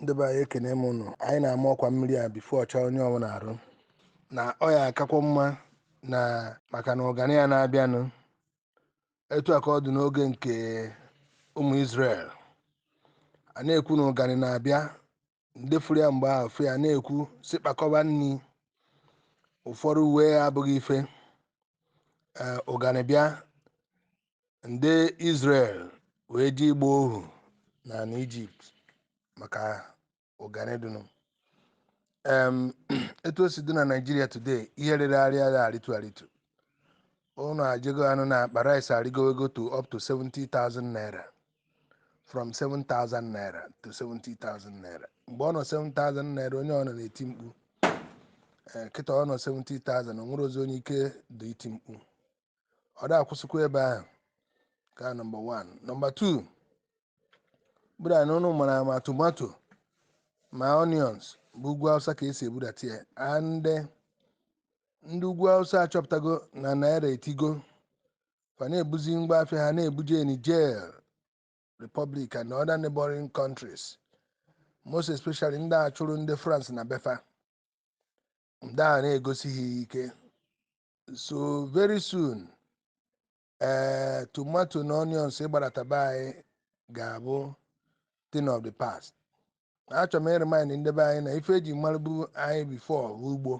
ndị be anyị ekene m ụnụ anyị na-ama ọkwa mmiri a before ọ chaa onye ọbụla arụ na ọ ya akakwa mma na maka na ụganị ya na-abịanụ etu a ka ọ dị n'oge nke ụmụ Israel a na-ekwu na ụganị na-abịa ndị fụrụ ya mgbe ahụ fa na-ekwu sị kpakọba nri ụfọdụ ewee ya abụghị ife ụganị bịa ndị Israel wee je ịgba ohu na n'Egypt maka ụganị dụnụ em etu o si dị na Nigeria today ihe rịrị arị agha arịtu arịtu ụnụ ajego anụ na akpa rice arịgowego to up to 70,000 naira from 7,000 naira to 70,000 naira mgbe ọ nọ 7,000 naira onye ọbụna na-eti mkpu ee kịta ọ nọ 70,000 o nwerozi onye ike dị iti mkpu ọ da akwụsịkwa ebe ahụ ka nọmba 1 nọmba 2 bụ that na ụnụ mara ma tomato ma onions bụ ugwu Awụsa ka e si ebudata ya and ndị ugwu Awụsa achọpụtago na naira etigo fa na-ebuzi ngwa afịa ha na-ebuje Niger Republic and other neighboring countries most especially ndị a chụrụ ndị France na be fa ndị a na-egosi gị ike so very soon ee eh, tomato na onions ịgbadata be anyị ga-abụ thing of the past achọrọ m ịremind ndị be anyị na ife e ji marụbu anyị before bụ ugbo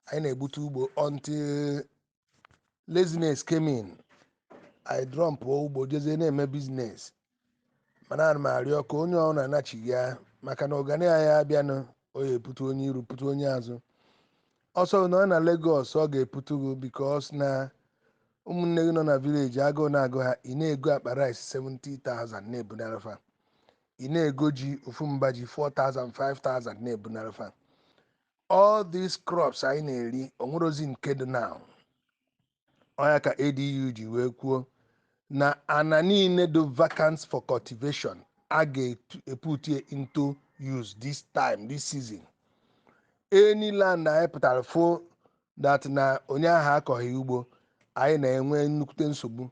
anyị na-egbute ugbo until laziness came in ị dropụọ ugbo jezie na-eme business mana ana m arịọ ka onye ọbụna nachighaa maka na ụganị a ya abịanụ ọ ya eputu onye iru putu onye azụ ọ sọ gị nọ na Lagos ọ ga-eputu gị because na ụmụnne gị nọ na village agụụ na-agụ ha ị na-ego akpa rice 70,000 na-ebunara fa ị na-ego ji ofu mba ji 4,000 5,000 na-ebunara fa all these crops anyị na-eri o nwerozi nke dị now ọ ya ka ADU ji wee kwuo na ana niile dụ vacant for cultivation a ga-eputie into use this time this season any land anyị pụtara fụ that na onye ahụ akọghị ugbo anyị na-enwe nnukwute nsogbu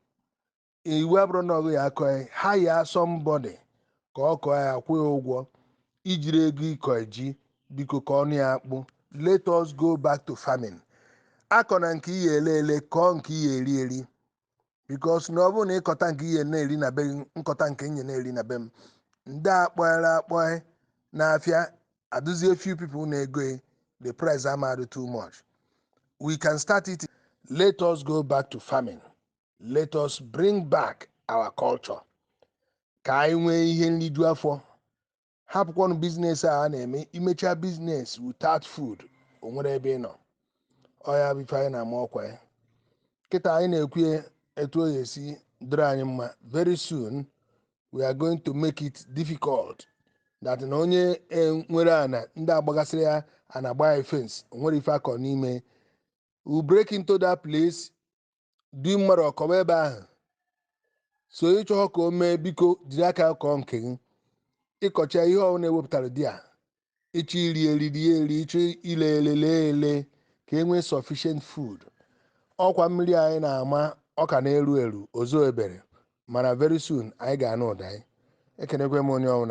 iwu abụrụ na ọ bụ ya akọ ya hire somebody ka ọ kọọ ya kwụọ ya ụgwọ i jiro ego ịkọ ji biko kọọnụ ya akpụ let us go back to farming akọna nke ị ya ele ele kọọ nke ị ya eri eri because na ọ bụrụ na ị kọta nke ị ya na-eri na be gị m kọta nke m ya na-eri na be m ndị akpọghara akpọghị n'afịa adụzie few people na-ego ya, the price ama adụ too much we can start it let us go back to farming let us bring back our culture ka anyị nwee ihe nriju afọ hapụkwanụ business a a na-eme i mechaa business without food o nwere ebe ị nọ ọ ya bụ ife anyị na-ama ọkwa ya kịta anyị na-ekwu ya etu o esi dịrị anyị mma very soon we are going to make it difficult that na onye e, nwere ana ndị agbagasịrị ya ana agba ya fence o nwerọ ife a kọ n'ime we break into that place du mmadụ ọ kọba ebe ahụ so ị chọhọ ka o mee biko jiri aka kọọ nke gị ị kọchaa ihe ọwụna e wepụtara dị a ị chọọ iri eri rie eri ị chọọ ile ele lee ele ka e nwee sufficient food ọkwa mmiri anyị na-ama ọ ka na-eru eru o zobero mana very soon anyị ga-anụ ụda anyị ekenekwa m onye ọbụla